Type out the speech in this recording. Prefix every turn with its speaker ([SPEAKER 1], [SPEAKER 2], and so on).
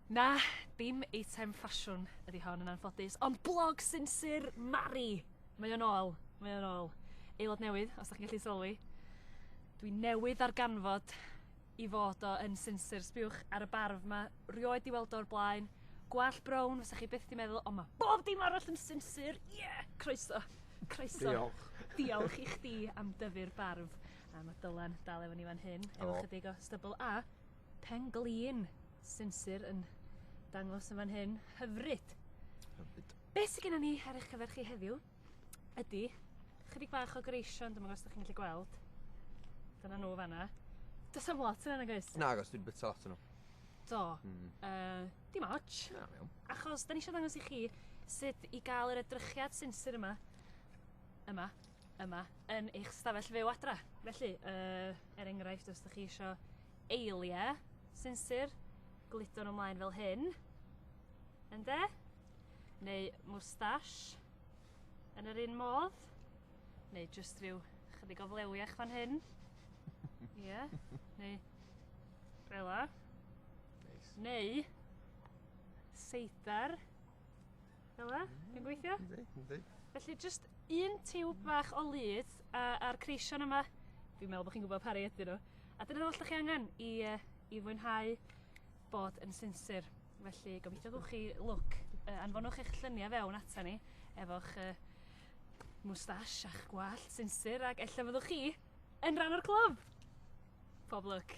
[SPEAKER 1] Na, dim eitem ffasiwn ydi hon yn anffodus, ond blog sinsir Mari! Mae o'n ôl, mae o'n ôl. Aelod newydd, os da chi'n gallu sylwi. Dwi newydd ar ganfod I fod o yn sinsir, sbiwch ar y barf 'ma, rioed 'di weld o o'r blaen. Gwallt brown, fysa chi byth 'di meddwl, ond mae bob dim arall yn sinsir! Ie! Croeso! Croeso! Diolch.
[SPEAKER 2] Diolch i
[SPEAKER 1] chdi am dyfu'r barf. A mae Dylan dal efo ni fan hyn, efo oh. chydig o stybl a pen glin sinsir yn dangos yn fan hyn. Hyfryd! Hyfryd. Be sydd gennym ni ar eich cyfer chi heddiw? ydy chydig bach o greision, dyma os ydych chi'n gallu gweld. Dyna nhw fanna. Does am lot yna, nag oes? Nag oes, dwi'n bit lot yna.
[SPEAKER 2] Do. Mm. Uh,
[SPEAKER 1] dim ots. Na, mewn. Achos,
[SPEAKER 2] da ni eisiau dangos i
[SPEAKER 1] chi sut i gael yr edrychiad sinsir yma, yma, yma, yn eich stafell fyw adra. Felly, uh, er enghraifft, os ydych chi eisiau eiliau sinsir, gludo nhw ymlaen fel hyn. Ynde? neu moustache yn yr un modd, neu jyst rhyw chydig o flewiach fan hyn. Ie, yeah. neu rela. Nice.
[SPEAKER 2] Neu
[SPEAKER 1] seidar. Fela, mm, yn gweithio? Ynddi, ynddi. Felly
[SPEAKER 2] jyst
[SPEAKER 1] un tiwb bach o lyd a'r creision yma. Dwi'n meddwl bod chi'n gwybod pari ydyn nhw. A dyna ddall chi angen i, uh, i fwynhau bod yn sinsir. Felly, gobeithio gwch chi lwc. Uh, anfonwch eich lluniau fewn ata ni efo'ch uh, mwstash a'ch gwallt sinsir ac ella fyddwch chi yn rhan o'r clwb. Pob lwc.